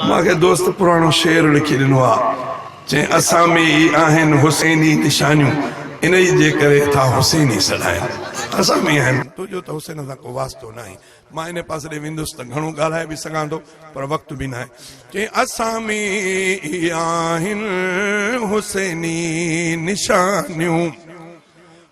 مان کي دوست پراڻو شعر لکي ڏنو آ چين اسان ۾ ئي آهن حسيني نشانيون انهي جي ڪري ٿا حسيني سڏاين اسان ۾ ئي آهن. تنهنجو ته حسين سان ڪو واسطو ناهي. مان انهي پاسي ڏي ويندس ته گهڻو ڳالهائي به سگهان ٿو پر وقت به ناهي. چين اسان ۾ ئي آهن حسيني نشانيون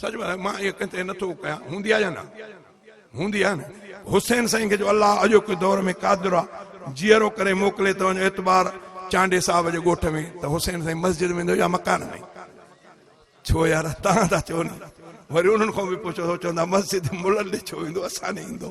سچ ٻڌايو مان اهي ڪنهن تي نٿو ڪيان هوندي آهي يا نه هوندي آهي نه حسين سائين کي جو الله اڄوڪي دور ۾ قادر آ جيئرو ڪري موڪلي ته وڃ اعتبار چانڊي صاحب جي ڳوٺ ۾ ته حسين سائين مسجد ويندو يا مڪان ۾ ڇو يار تهان ٿا چئو نه وري انهن کان به پڇو ٿو چوندا مسجد ملن ڏي ڇو ويندو اسان ڏي ايندو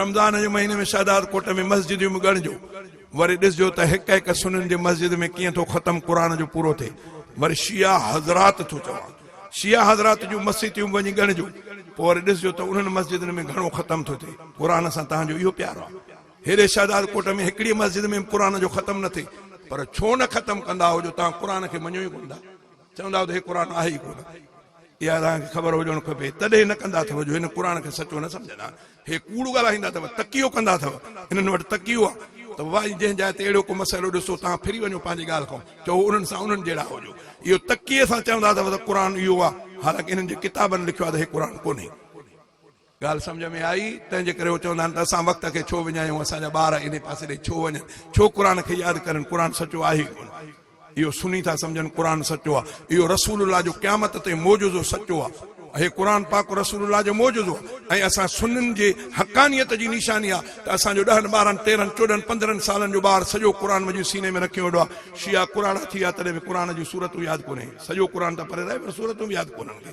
رمضان جي مهيني ۾ شهداد ڪوٽ ۾ مسجديون به ڳڻجو وري ڏسجو ته هڪ هڪ سنن جي مسجد ۾ ڪيئن ٿو ختم قرآن جو پورو ٿئي وري شيعا حضرات ٿو چوان شيعا حضرات جون مسيتيون به وڃي ڳڻجو پوء وري ڏسجو ته انهن مسجدن ۾ گهڻو ختم ٿو ٿئي قرآن سان تهان جو اهو پيار آهي هيڏي شهداد ڪوٽ ۾ هڪڙي مسجد ۾ به قرآن جو ختم نه ٿئي پر ڇو نه ختم ڪندا آهيو جو تهان قرآن کي مڃو ئي ڪونه ٿا چوندا هو ته هي قرآن آهي ئي ڪونه. اها توهان کي خبر هجڻ کپي. تڏهن نه ڪندا اٿئو جو هن قرآن کي سچو نه سمجهندا. هي ڪوڙ ڳالهائيندا اٿئو. تقيو ڪندا اٿئو. هنن وٽ تقيو آهي ته واهي جنهن جاء تي اهڙو ڪو مسئلو ڏسو توهان ڦري وڃو پنهنجي ڳالهه کان چئو انهن سان انهن جهڙا هجو. اهو تقيي سان چوندا اٿئو ته قرآن اهو آهي حالانڪه انهن جي ڪتابن لکيو آهي ته هي قرآن ڪونهي. ڳالهه سمجهه ۾ آئي، تنهن جي ڪري هو چوندا آهن ته اسان وقت کي ڇو وڃايون، اسان جا ٻار انهي پاسي ڏي ڇو وڃن، ڇو قرآن کي ياد ڪرن، قرآن سچو آهي ئي ڪونه. اهو سني ٿا سمجهن قرآن سچو آ، اهو رسول الله جو قيامت تائين معجزو سچو آ. اهي قرآن پاڪ رسول الله جو معجزو آ ۽ اسان سنن جي حقانيت جي نشاني آ ته اسان جو ڏهن ٻارهن تيرهن چوڏهن پندرهن سالن جو ٻار سڄو قرآن مجيد سيني ۾ رکي ويٺو آ، شيعا ڪراڙا ٿي ويا تڏهن به قرآن جون سورتون ياد ڪونهين، سڄو قرآن ته پري رهي پر سورتون به ياد ڪونهن کي.